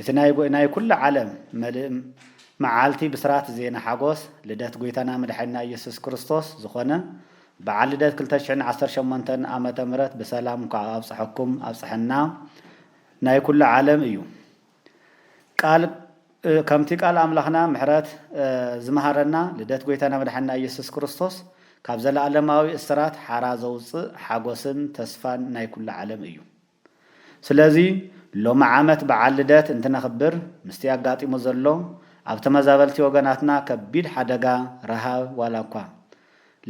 እቲ ናይ ጎይናይ ኩሉ ዓለም መልእም መዓልቲ ብስራት ዜና ሓጎስ ልደት ጎይታና መድሓኒና እየሱስ ክርስቶስ ዝኾነ በዓል ልደት ክልተ ሽሕን ዓሰርተ ሸሞንተን ኣመተ ምህረት ብሰላም እንኳዕ ኣብፀሐኩም ኣብፀሐና ናይ ኩሉ ዓለም እዩ ቃል ከምቲ ቃል ኣምላኽና ምሕረት ዝመሃረና ልደት ጎይታና መድሓኒና እየሱስ ክርስቶስ ካብ ዘለኣለማዊ እስራት ሓራ ዘውፅእ ሓጎስን ተስፋን ናይ ኩሉ ዓለም እዩ። ስለዚ ሎሚ ዓመት በዓል ልደት እንትነኽብር ምስቲ ኣጋጢሙ ዘሎ ኣብ ተመዛበልቲ ወገናትና ከቢድ ሓደጋ ረሃብ ዋላኳ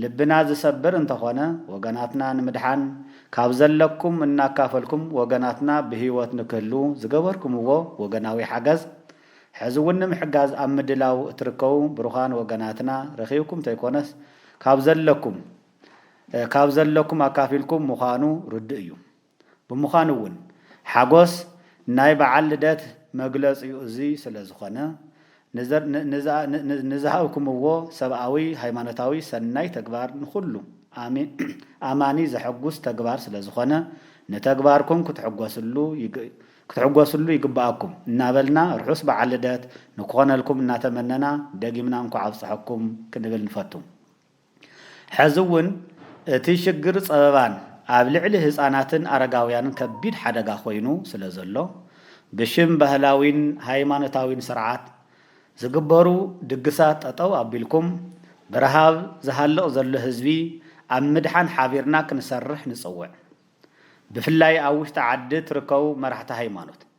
ልብና ዝሰብር እንተኾነ ወገናትና ንምድሓን ካብ ዘለኩም እናካፈልኩም ወገናትና ብህይወት ንክህልዉ ዝገበርኩምዎ ወገናዊ ሓገዝ ሕዚ እውን ንምሕጋዝ ኣብ ምድላው እትርከቡ ብሩኻን ወገናትና ረኺብኩም ተይኮነስ ካብ ዘለኩም ካብ ዘለኩም ኣካፊልኩም ምዃኑ ርዱእ እዩ። ብምዃኑ እውን ሓጎስ ናይ በዓል ልደት መግለጺኡ እዚ ስለ ዝኾነ፣ ንዝሃብኩምዎ ሰብኣዊ ሃይማኖታዊ ሰናይ ተግባር ንኹሉ ኣማኒ ዘሐጉስ ተግባር ስለ ዝኾነ ንተግባርኩም ክትሕጎስሉ ይግበኣኩም እናበልና ርሑስ በዓል ልደት ንክኾነልኩም እናተመነና ደጊምና እንኳዕ ኣብፀሐኩም ክንብል ንፈቱ። ሕዚ እውን እቲ ሽግር ፀበባን ኣብ ልዕሊ ህፃናትን ኣረጋውያንን ከቢድ ሓደጋ ኮይኑ ስለዘሎ ብሽም ባህላዊን ሃይማኖታዊን ስርዓት ዝግበሩ ድግሳት ጠጠው ኣቢልኩም ብረሃብ ዝሃልቕ ዘሎ ህዝቢ ኣብ ምድሓን ሓቢርና ክንሰርሕ ንፅውዕ። ብፍላይ ኣብ ውሽጢ ዓዲ ትርከቡ መራሕቲ ሃይማኖት።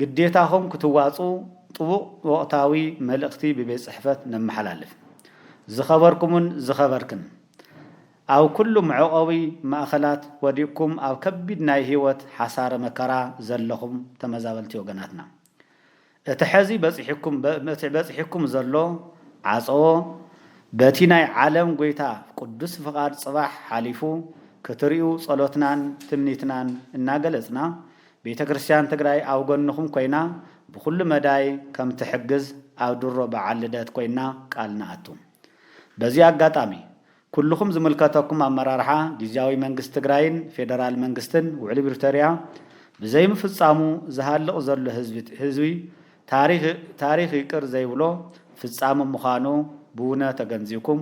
ግዴታኹም ክትዋፅኡ ጥቡቕ ወቕታዊ መልእኽቲ ብቤት ፅሕፈት ነመሓላልፍ። ዝኸበርኩምን ዝኸበርክን፣ ኣብ ኩሉ መዕቖቢ ማእኸላት ወዲቕኩም ኣብ ከቢድ ናይ ህይወት ሓሳረ መከራ ዘለኹም ተመዛበልቲ ወገናትና፣ እቲ ሐዚ በፂሑኩም ዘሎ ዓፀዎ በቲ ናይ ዓለም ጎይታ ቅዱስ ፍቓድ ፅባሕ ሓሊፉ ክትሪኡ ፀሎትናን ትምኒትናን እናገለፅና፣ ቤተ ክርስትያን ትግራይ ኣብ ጎንኹም ኮይና ብኹሉ መዳይ ከም ትሕግዝ ኣብ ድሮ በዓል ልደት ኮይና ቃል ንኣቱ። በዚ ኣጋጣሚ ኩሉኹም ዝምልከተኩም ኣመራርሓ ጊዚያዊ መንግስቲ ትግራይን ፌደራል መንግስትን ውዕሊ ብሪቶሪያ ብዘይምፍፃሙ ዝሃልቕ ዘሎ ህዝቢ ታሪኽ ይቅር ዘይብሎ ፍፃመ ምዃኑ ብውነ ተገንዚብኩም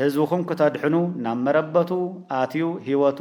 ህዝብኹም ክተድሕኑ ናብ መረበቱ ኣትዩ ህይወቱ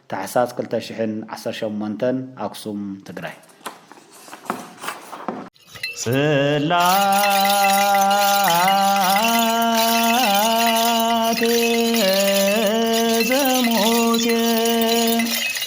ታሕሳስ ክልተ ሽሕን ዓሰርተ ሸሞንተን ኣክሱም ትግራይ። ጽላተ ዘሙሴ